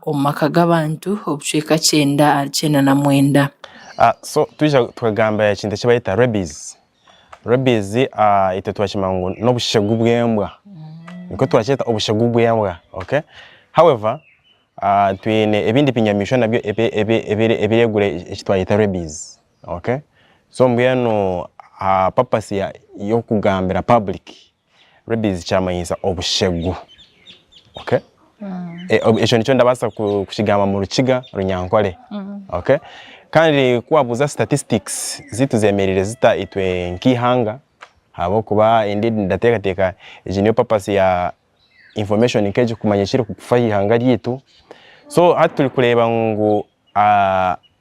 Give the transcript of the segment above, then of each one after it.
omu maka g'abantu obucweka kyenda ahari kyenda na mwenda. So twija tukagamba ekintu eki barayeta rabies, rabies itwe twakimanya ngu n'obushegu bw'embwa, nikwo twakyeta obushegu bw'embwa okay, however twine ebindi binyamishwa nabyo ebiregura eki twayeta rabies okay, so mbwenu aha purpose y'okugambira public. Rabies kyamanyiisa obushegu. Okay? E- ob- Ekyo nikyo ndabaasa ku- kukigamba mu Rukiga, Runyankore. Okay? Kandi ku wabuuza statistics ziitu zemereire zita itwe nk'eihanga, ahabw'okuba indeed ndateekateeka egi niyo purpose ya information nk'egi kumanya ekirikufa aha ihanga ryaitu. So hati turi kureeba ngu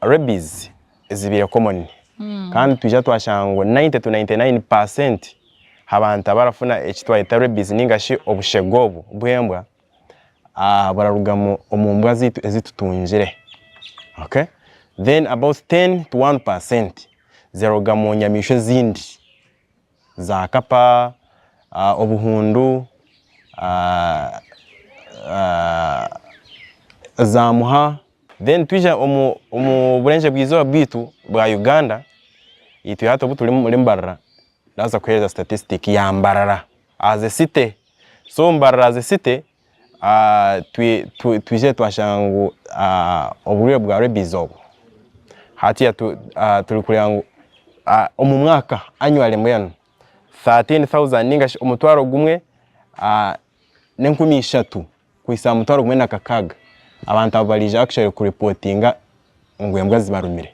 Rabies ezibaire common kandi twija twashanga ngu 90 to 99 per cent habantu abarafuna eki twayeta rabies ninga shi obushega obu bw'embwa buraruga omu mbwa zaitu ezi tutungire. Then about 10 to 1 per cent ziraruga mu nyamaishwa ezindi. zaakapa, obuhundu, zaamuha then twija omuburengyerwa izooba bwaitu bwa Uganda itwe hati obuturi omuri Mbarara ndabaasa kuheereza statistic ya Mbarara as a city so Mbarara as a city Twizire twashanga ngu oburwaire bwa rabies obu, hatiya turi kureba ngu omu mwaka annually mbwenu thirteen thousand ninga shi omutwaro gumwe n'enkumi ishatu kuhitsya aha mutwaro gumwe na kakaaga abantu abu barija actually ku reportinga ngu embwa zibarumire,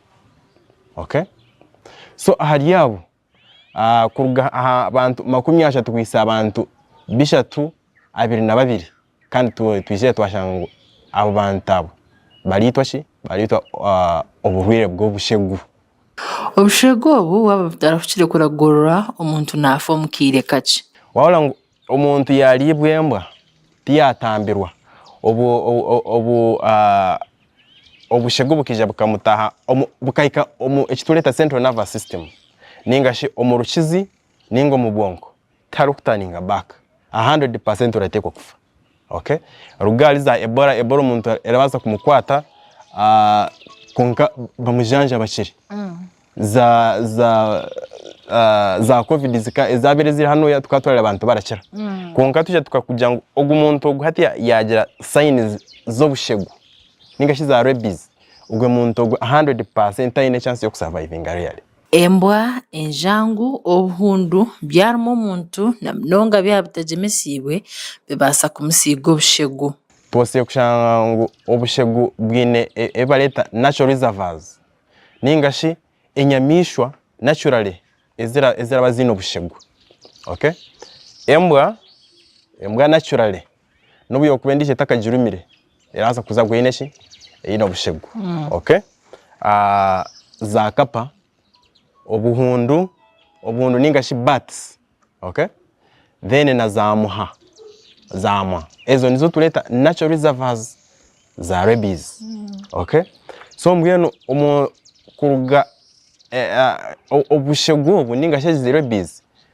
okay? So ahari abo kuruga aha bantu makumi ashatu kuhitsya aha bantu bishatu abiri na babiri kandi twizire twashanga ngu abo bantu abo baraitwa ki baraitwa oburwaire bw'obushegu. Obushegu obu waaba butarahukire kuragurura omuntu naafa omu kaire kakye. Waahurira ngu Omuntu yaaryibwa embwa tiyaatambirwa, obwo obu obushegu bukaija bukamutaha bukahika omu eki tureeta central nervous system ninga shi omu rukizi ninga omu bwonko tiharikutaaninga back, a hundred percent orateekwa kufa. ok ruga ahari za ebola ebola omuntu erabaasa kumukwata ah, kwonka bamujanjaba kiri za za ah, za covid zika- ezabaire ziri hanu tukaba turareba abantu barakira kwonka twija tukakugira ngu ogu muntu ogu hati ya- yagira signs z'obushegu ninga shi za rabies ogwe muntu ogwe 100% tayine chance y'okusurvivinga really. Embwa, enjangu, obuhundu byaruma omuntu na munonga byaba bitagyemeseibwe bibaasa kumusiiga obushegu. Tubaasire kushanga ngu obushegu bwine ebi bareeta natural reservoirs ninga shi enyamaishwa naturally eziraba ziine obushegu. Embwa, embwa naturally nobu yokuba endijo etakagirumire erabaasa kuza gu eine ki eine obushegu mm. ok ah, za kapa obuhundu obuhundu ningashi bats ok then na za muha zamwa ezo nizo tureta natural reservoirs za rabies mm. ok so mbwenu omu kuruga eh, ah, obushegu obu ningashi ezi rabies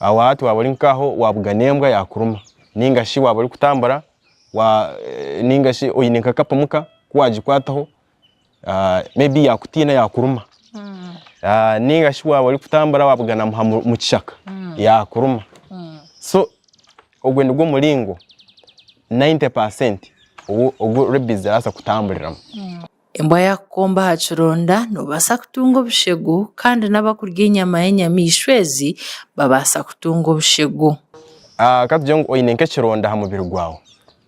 Aho hati waaba ori nk'aho waabuga n'embwa yaakuruma nainga shi waaba orikutambura nainga shi oine nk'akapimu ka ku waagikwataho may be yaakutiina yaakuruma. Nainga shi waaba orikutambura waabuga na muha mu kishaka yaakuruma. So ogwo nigwo muringo ninety percent ogu rebies zirabaasa kutamburiramu. Embwa yaakukomba aha kironda, noobaasa kutunga obushegu kandi n'abakurya enyama y'enyamaishwa ezi babaasa kutunga obushegu. Katugire ngu oine nk'ekironda aha mubiri gwawe,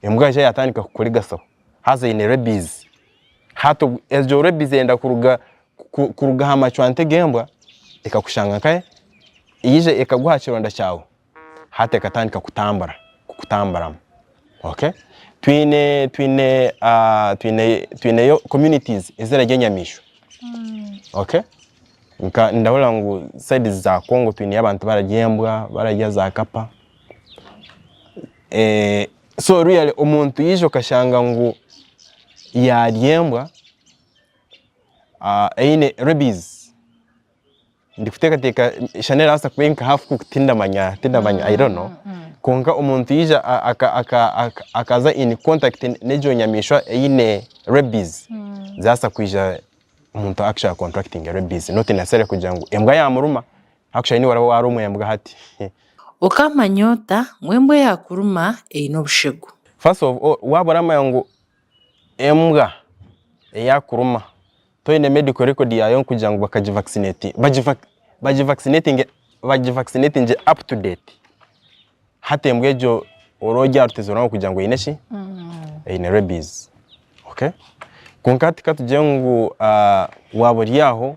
embwa yaija yaatandika kukurigasaho haza eine rabies. Hati obwo egyo rabies eyenda kuruga kuruga aha macwante g'embwa ekakushanga nkahe? Yaija ekagwa aha kironda kyawe heart ekatandika kutambura kukutamburamu okay twine twine ah, twine twineyo communities ezirarya enyamaishwa okay nka ndahurira ngu sides za Congo twineyo abantu bararya embwa bararya za kapa eh, so really omuntu yaija okashanga ngu yarya embwa ah, eine rabies ndikuteekateeka eishaani erikubaasa kuba eri nka haafu kuuku tindamanya tindamanya i don't know kwonka omuntu yaija a- aka- aka- aka- akaza in contact n'egyo nyamaishwa eine rabies zaabaasa kwija omuntu actually a contractinge rabies not necessarily kugira ngu embwa yaamuruma actually niiwe oraba waarumwa embwa hati Okamanya ota ngu embwa eyaakuruma eine obushegu? First of all waaba oramanya ngu Embwa eyakuruma toine medical record yaayo nkugira ngu bakagivaccinati bagivaccinati bagivaccinati up to date hati embwa egyo ori ori aha rutegyerwa ngu kugira ngu eine ki eine rabies okay kwonka hati katugire ngu waaba ori aho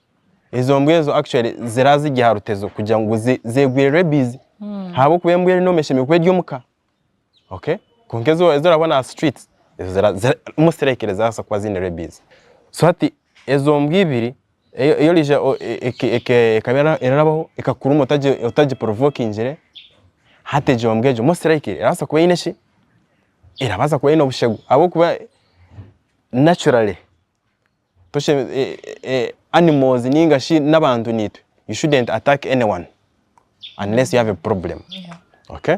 Ezo mbwa ezo actually zira ziri aha rutezo kugira ngu zegwire rabies ahabw'okuba embwa enuuma eshemereire kuba eri omu ka. Okay? Kwonka ezi ezi orabona aha streets, ezo zira zira most likely zirabaasa kuba ziine rabies. So hati ezo mbwa ibiri ei- ei orija o- e- e- eke- ekaba erabaho ekakuruma otagi otagiprovokingire, hati egyo mbwa egyo most likely erabaasa kuba eine ki, erabaasa kuba eine obushegu ahabw'okuba naturally. animals ninga shi n'abantu naitwe you shouldn't attack anyone unless you have a problem okay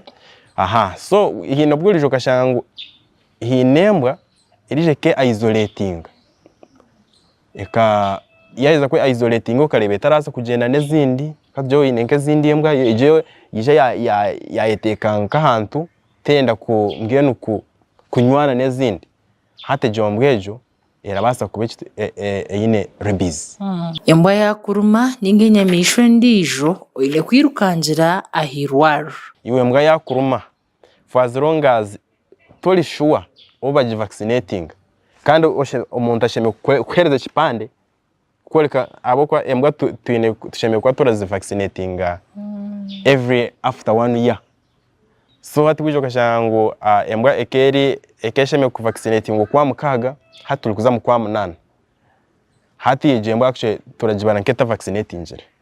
aha so haine obu orija okashanga ngu haine embwa erija eke isoletinga eka yaheza kwe isoletinga okareba etarabaasa kugyenda n'ezindi katugire oine nk'ezindi embwa egyo yaija ya ya yayeteeka nk'ahantu terenda ku mbwenu ku kunywana n'ezindi hati egyo mbwa egyo Erabaasa kuba eine rabies. Embwa yaakuruma nainga enyamaishwa endiijo, oine kwirukangira aha irwariro. Iwe embwa yaakuruma, for as long as tori shuwa obu bagi vaccinatinga, kandi omuntu ashemereire kukuheereza ekipande kworeka ahabw'okuba embwa tu- twine tushemereire kuba turazivacinatinga every after one year so hati bwija okashanga ngu ah, embwa ekeeri ekeshemereire kuvacinatingwa okwa mukaaga hati turi kuza mu kwa munaana hati egyo embwa actually turagibara nk'etavacinatingire.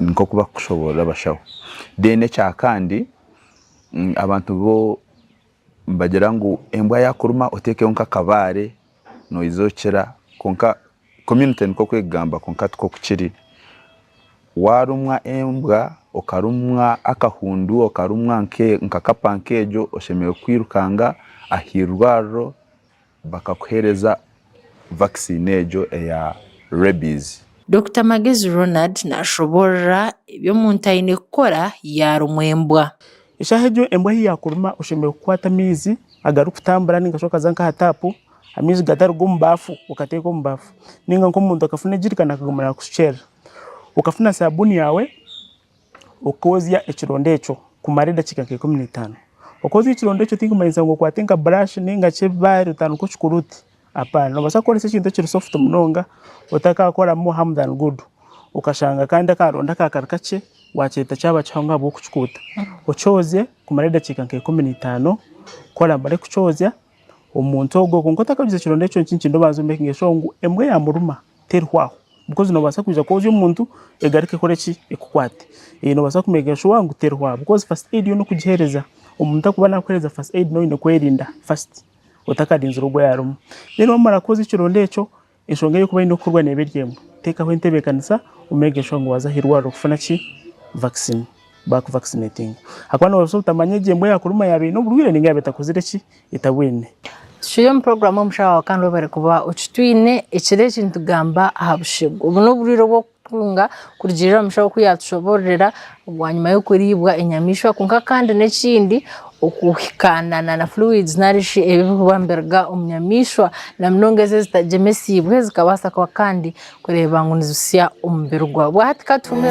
Nk'oku bakukushoboorora abashaho. Then ekyakandi abantu bo nibagira ngu embwa yakuruma otekeho nk'akabaare noija okira kwonka community nikwo kwegamba kwonka tikwo kukiri. Warumwa embwa, okarumwa akahundu, okarumwa nka kapa nk'egyo oshemereire kwirukanga aha irwariro. bakakuheereza vakisiini egyo eya Rabies. Dokita Magezi Ronald naashoboorora ebi omuntu aine kukora yaarumwa embwa. Eshaaha egyo embwa ahi yaakuruma oshemereire kukwata amaizi agarikutambura nainga shi okaza nk'aha taapu amaizi gataruga omu baafu okateeka omu baafu nainga nk'omuntu akafuna ejirikani akaguma naakushukyerera. Okafuna saabuuni yaawe. Okozya ekironda ekyo kumara edakiika nka ikumi n'itaano. Okozya ekironda ekyo tikumanyisa ngu okwate nka burashi ninga shi ebibaare otandike okikore oti, apaana. Nobaasa kukoresa ekintu ekiri sofuti munonga otakakoramu hamu dani gudu, okashanga kandi akaronda akaba kari kakye wakyeeta kyaba kihango ahabw'okukikuuta. Okyozye kumara edakiika nka ikumi n'itaano, ku oramare kukyozya, omuntu ogwo kwonka otakaguza ekironda ekyo nikyo nikindi obanze omekinge sure ngu embwa eyamuruma terihwa aho because nobaasa kwija kwoza omuntu egaruke ekore ki ekukwate. Nobaasa kumekinga sure ngu terihwa aho because first aid yo n'okugiheereza omuntu arikuba nakuheereza first aid noba oine kwerinda first otakarinzire ogwo ayarumu. Then wamara kwoza ekironda ekyo Enshonga ey'okuba eine kukorwa neeba eri emwe, teekaho entebeekanisa omeege enshonga waaza aha irwariro kufuna ki? Vaccine, baakuvakisineetinga. Ahakuba noobaasa obutamanya egyo embwa yaakuruma yaaba eine oburwaire nainga yaaba etakozire ki? Etabwine. Tucwire omu puroguraamu y'omushaho waawe kandi webare kuba okitwiine. Ekiro eki nitugamba aha bushegu. Obu n'oburwaire obw'oku. Kwonka kurugiirira omushaaho ku yaatushoboororera bwanyima y'okuriibwa enyamaishwa kwonka kandi n'ekindi okuhikaanana na fluids nari shi ebi ebirikuba nibiruga omu nyamaishwa na munonga ezo ezitagyemesiibwe zikabaasa kuba kandi kureeba ngu nizitsya omubiri gwabo. Bwahati ka tufume.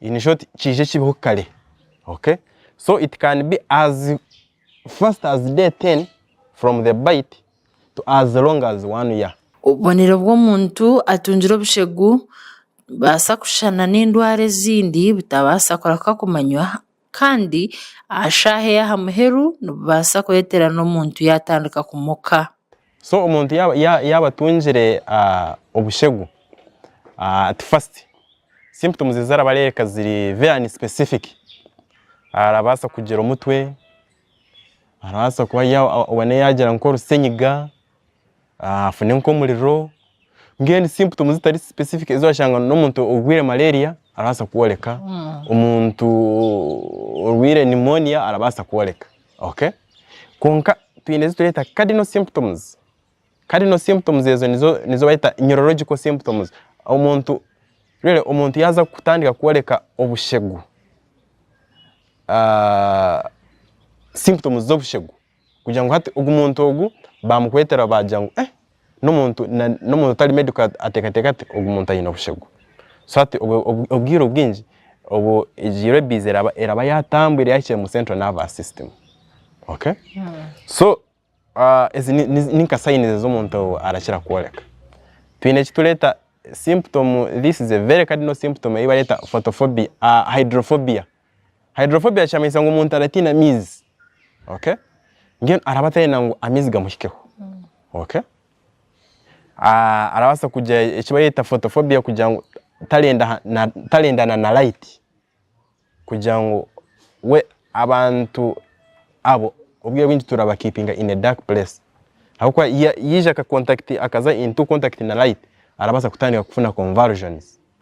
in short kiije kibeho kare okay so it can be as fast as day 10 from the bite to as long as one year. Obubonero bw'omuntu atungire obushegu nibubaasa kushushana n'endwara ezindi butabaasa kureka kumanywa kandi aha shaaha ey'aha muheru nibubaasa kureetera n'omuntu yaatandika kumuka. So omuntu yaaba ya- yaaba atungire ah, obushegu ah, at first symptoms ezi araba areereka ziri very unspecific arabaasa kugira omutwe, arabaasa kuba ya- obone yaagira nk'orusenyiga, afune nk'omuriro mbwenu symptoms zitari specific ezi orashanga n'omuntu orwaire malaria arabaasa kworeka, omuntu orwaire pneumonia arabaasa kworeka okay? Kwonka twine ezi tureeta cardinal symptoms, cardinal symptoms ezo nizo nizo bareeta neurological symptoms, omuntu really omuntu yaaza kutandika kworeka obushegu symptoms z'obushegu. kugira ngu hati ogu muntu ogu bamukwetera bagira ngu eh n'omuntu na- n'omuntu otari medical at- ateekateeka ati ogu muntu aine obushegu so hati obwe obw- obwire obwingi obu egi rabies eraba eraba yatambwire yahikire mu central nervous system okay so ezi ni- ni- ninka signs ezi omuntu ou arakira kworeka, twine eki tureeta symptom this is a very cardinal symptom ei bareeta photophobia hydrophobia Hydrophobia kiramanyisa ngu omuntu aratiina amaizi. Okay? Mbwenu araba atarenda ngu amaizi gamuhikeho. Okay? Ah, arabaasa kugira eki bareta photophobia kugira ngu tarenda ha- na- tarendana na light. Kugira ngu we abantu abo obwire bwingi turabakipinga in a dark place. Ahabw'okuba ya- yaija aka contact akaza into contact na light, arabaasa kutandika kufuna convulsions.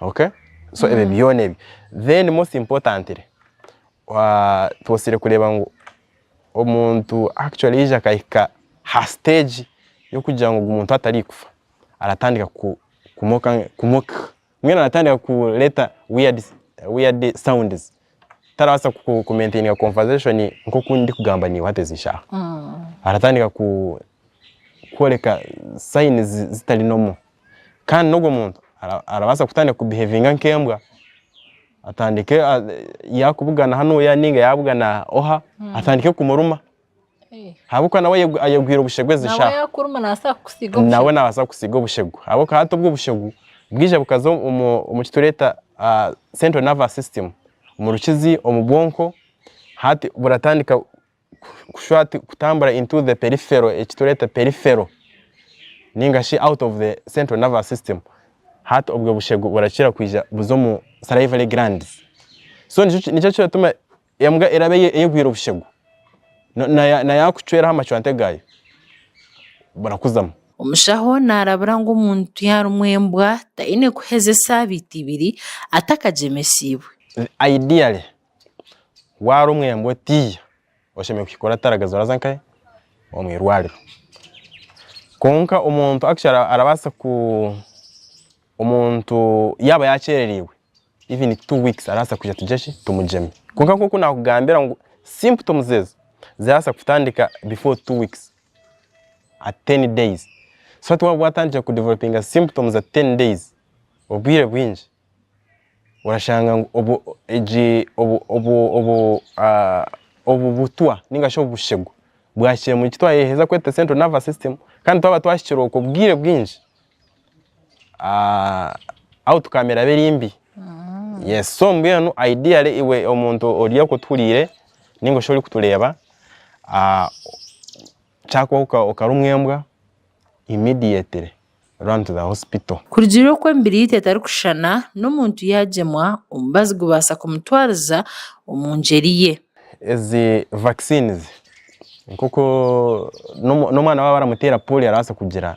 Okay so ebyo byona ebyo then most importantly tibosire kureba ngu omuntu actually yaija akahika ha stage yokugira ngu ogu muntu atari kufa aratandika ku ku mock mock mbwenu aratandika kureta weird sounds tarabaasa ku maintainer conversation nkoku ndi kugamba naiwe hati ezi shaaha. Aratandika ku kworeka signs zitari normal. Kandi n'ogwo muntu arabaasa kutandika ku behavinga nk'embwa, atandike ya kubugana hanu oya ninga ya bugana oha, atandike kumuruma. ahabw'okuba nawe ayegwire obushegu ezi shaaha nawe nabaasa kukusiiga obushegu ahabw'okuba hati obwo obushegu bwija bukaza omu kitureeta ah, central nervous system omu rukizi omu bwonko hati buratandika kushwa hati kutambura into the peripheral eki tureeta peripheral ninga shi out of the central nervous system hati obwo bushegu burakira kwija buza omu salivary glands so nikyo nikyo kiratuma. Embwa eraba eyegwire obushegu, na yaakucweraho amacwante gaayo, burakuzamu. Omushaho naarabira ngu omuntu yaarumwa embwa taine kuheza esaabiiti ibiri atakagyemesiibwe. Ideally, waarumwa embwa otiiya, oshemereire kukikora otarageza oraza nkahe? Omu irwariro. Kwonka omuntu actually arabaasa ku. Omuntu yaaba yakyerereirwe even two weeks arabaasa kwija tugire ki tumugyeme kwonka nk'oku naakugambira ngu symptoms ezo zirabaasa kutandika before two weeks at ten days so hati waaba watandikire ku developinga symptoms at ten days obwire bwingi orashanga ngu obwo egi obu obu obu obu butwa ninga shi obushegu bwahikire omuri ki twayeheza kweta central nervous system kandi twaba twahikire okwo obwire bwingi ah, outcome eraba eri mbi yes so mbwenu ideally iwe omuntu ori okutuhuriire ninga shi ori kutureeba ah, kyakubaho oka- okarumwa embwa immediately run to the hospital. Kurugiirira oku emibiriiti etarikushushana, n'omuntu yaagyemwa, omubazi gubaasa kumutwariza omu ngyeri ye. Ezi vaccines nk'oku n'omu- n'omwana waaba baramuteera poolio arabaasa kugira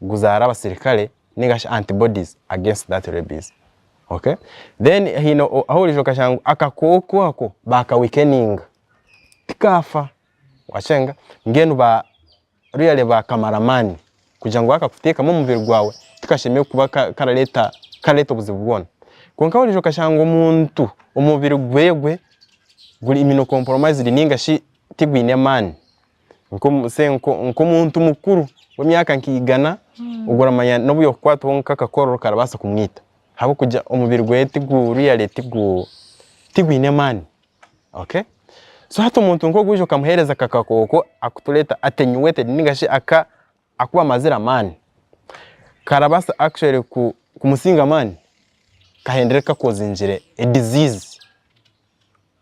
guzaara abasirikare ninga shi antibodies against that rabies ok then haine ahu orija okashanga ngu akakooko ako baka weakeninga tikafa wakyenga mbwenu ba really bakamara amaani kugira ngu bakakuteekamu omubiri gwawe tikashemeriire kuba karareeta karareeta obuzibu bwoona kwonka ahu orija okashanga omuntu omubiri gwewe guri immunocompromised ninga shi tigwine amaani. nkomu say nko- nkomuntu mukuru w'emyaka nka igana obwo oramanya nobu yokukwatwa nka akakororo karabaasa kumwita ahabw'okugira omubiri gweye tigu really tigu tigwine amaani okay so hati omuntu nk'ogu waija okamuheereza aka kakooko akutureeta attenuated ninga shi aka akuba amazire amaani karabaasa actually ku kumusinga amaani kahendere kakozingire a disease.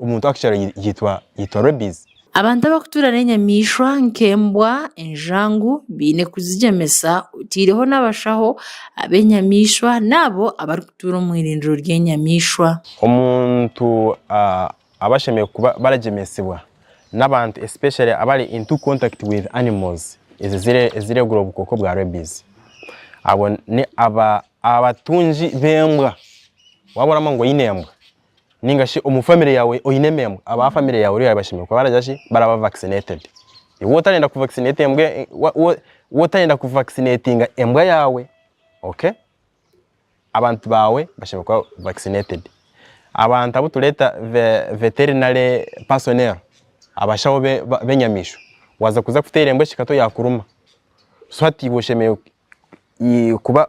Omuntu ow'akukyaro yaitwa Rabies. Abantu abakutuura n'enyamaishwa nk'embwa, enjangu baine kuzigyemesa oteireho n'abashaho ab'enyamaishwa n'abo abarikutuura omu eirindiro ry'enyamaishwa. Omuntu aba ashemereire kuba baragyemesibwa n'abantu especially abari into contact with animals eziregura obukooko bwa Rabies. Abo n'abatungi b'embwa. Waaba oragamba ngu oine embwa, ninga shi omu family yaawe oine emembwa, aba family yaawe rero bashemereire kuba baragira ki, baraba vaccinated. Iwe otarenda ku vaccinate embwa e- e- wa- wa- wa otarenda ku vaccinatinga embwa yaawe, okay, abantu baawe bashemereire kuba vaccinated. Abantu abu tureeta ve- veterinary personnel, abashaho be- ba- b'enyamiishwa, waaza kuza kuteera embwa ekikato yaakuruma, so hati iwe oshemereire i- kuba.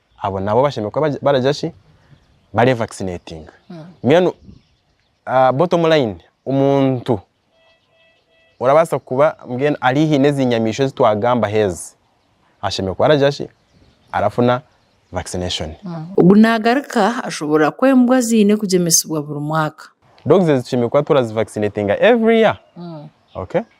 abo nabo bashemereire kuba bari- baragira ki barevakisinetinga mbwenu ah, bottom line omuntu orabaasa kuba mbwenu ari haihi n'ezi nyamaishwa ezi twagambaho ezi ashemereire kuba aragira ki arafuna vaccination Ogu naagaruka ashobora ku embwa ziine kugyemesibwa buri mwaka. dogs ezi tushemereire kuba turazivakisinetinga every year okay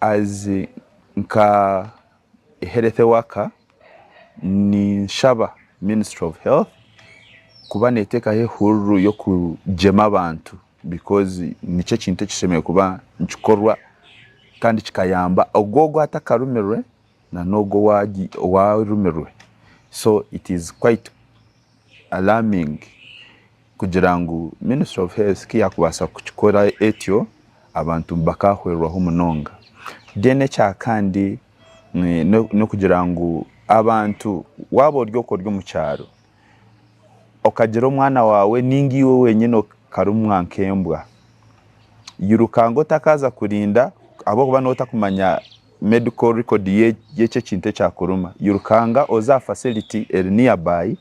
As nka health worker ninshaba ministry of health kuba netekaho ehururu yokugema abantu because nikyo ekintu ekishemereire kuba nikikorwa Kandi kikayamba ogwo ogu atakarumirwe na n'ogwo owaarumirwe so it is quite alarming kugira ngu ministry of health ku yaakubaasa kukikora etyo abantu bakaahwirwaho munonga. Then ekyakandi n'okugira ngu abantu waaba ori oku ori omu kyaro okagira omwana waawe nainga iwe wenyine okarumwa nk'embwa, irukaanga otakaaza kurinda ahabw'okuba nooba otakumanya medical record y'ekyo ekintu ekyakuruma. Irukaanga oze aha facility eri nearby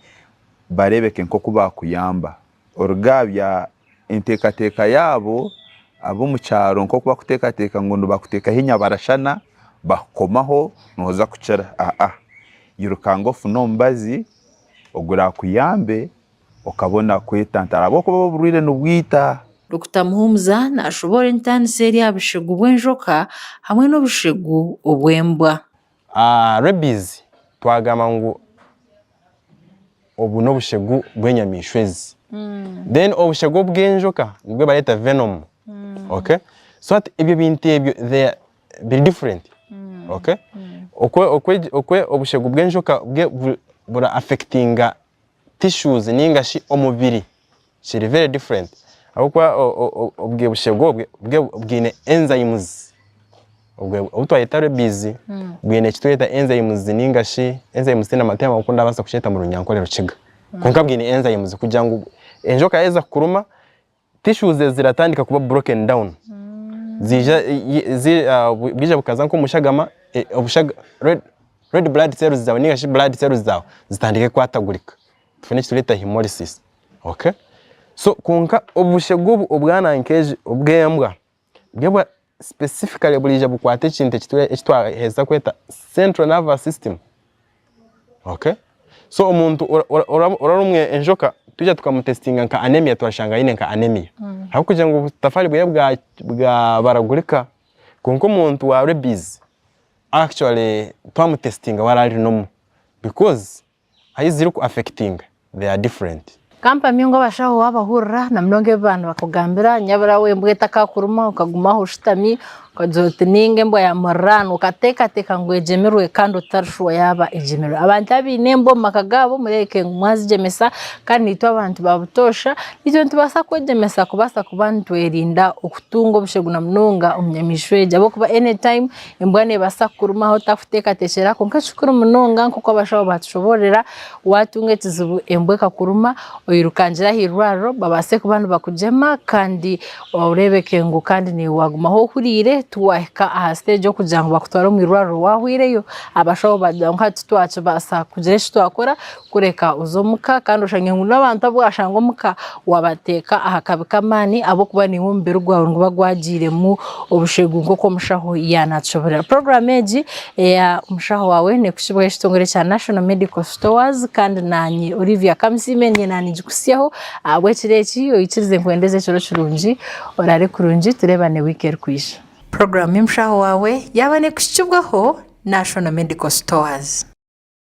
bareebeke nk'oku baakuyamba. Orugaabya enteekateeka yaabo ab'omu kyaro nk'oku bakuteekateeka ngu nibakuteekaho enyabarashana, bakukomaho nooza kukira. Aa-a. Irukanga ofune omubazi oguraakuyambe okabona kwetantara ahabw'okuba oburwaire nibwita. Dokita Muhumuza naashoboora entaaniso eri aha bushegu bw'enjoka hamwe n'obushegu obw'embwa. Rabies twagamba ngu obu n'obushegu bw'enyamaishwa ezi. Then obushegu obw'enjoka nibwo bareeta venom. Okay? So hati ebyo bintu ebyo they are biri different. Okay? Okwe okwe okwe obushegu bw'enjoka bwe buri buri affectinga tissues ninga shi omubiri kiri very different ahabw'okuba obwe bushegu obwe bwe bwine enzymes obwe obu twayeta rabies bwine eki tweta enzymes ninga shi enzymes tihaine ama tihaine oku ndaabaasa kukyeta mu Runyankore Rukiga kwonka bwine enzymes kugira ngu enjoka yaaheza kukuruma tissues ezo ziratandika kuba broken down ziija bwija bukaza nk'omu shagama red blood cells zaawe ninga shi blood cells zaawe zitandike kukwatagurika tufune eki tureeta hemolysis okay so kwonka obushegu obu obwana nkejo obw'embwa. Byo specifically buraija bukwata ekintu eki twaherize kweta central nervous system. Okay? So omuntu oraba omu enjoka twija tukamutesitinga nka anemia twashanga aine nka anemia. Mm. Habw'okugira ngu obutafaari bweye bwabaragurika kwonka omuntu wa rabies actually twamutesitinga we araba ari normal because. Ahi ziri ku affectinga they are different. Ka mpamye ngu abashaho waaba ohurira na munonga ebi baanibakugambira, nyabura we embwa etakakuruma okaguma aho oshutami, okagira oti ninga embwa ya muriraanwa, okateekateeka ngu egyemirwe kandi otari shuwa yaaba egyemirwe. Abantu abaine embwa omu maka gaabo mureebeke ngu mwazigyemesa kandi naitwe abantu ba butoosha naitwe nitubaasa kwegyemesa kubaasa kuba nitwerinda okutunga obushegu na munonga omu nyamaishwa egi ahabw'okuba any time Embwa neebaasa kukuruma ahu otarikuteekateekyera kwonka ekikuru munonga nk'oku abashaho baatushoboororera, waatunga ekizibu embwa ekakuruma, oirukangire aha irwariro babaase kuba nibakugyema kandi oreebeke ngu kandi naiwe waaguma ahu ohuriire tiwaahika aha siteegi y'okugira ngu bakutware omu irwariro waahweireyo, abashaho baagira ngu hati twakibaasa kugira eki twakora kureka oze omu ka kandi oshange ngu n'abantu abu waashanga omu ka wabateeka aha kabi k'amaani ahabw'okuba naiwe omubiri gwawe niguba gwagiiremu obushegu nk'oku omushaho yaanaakishoboorora. Puroguraamu egi eya Omushaho Waawe neekuhikibwaho ekitongore kya National Medical Stores kandi naanye Olivia Kamisiime ndiyo naanigikutsyaho ahabw'ekiro eki. Oikirize nkuhendeze ekiro kirungi, oraare kurungi tureebane wiiki erikwija. Puroguraamu y'Omushaho Waawe yaaba neekuhikibwaho National Medical Stores.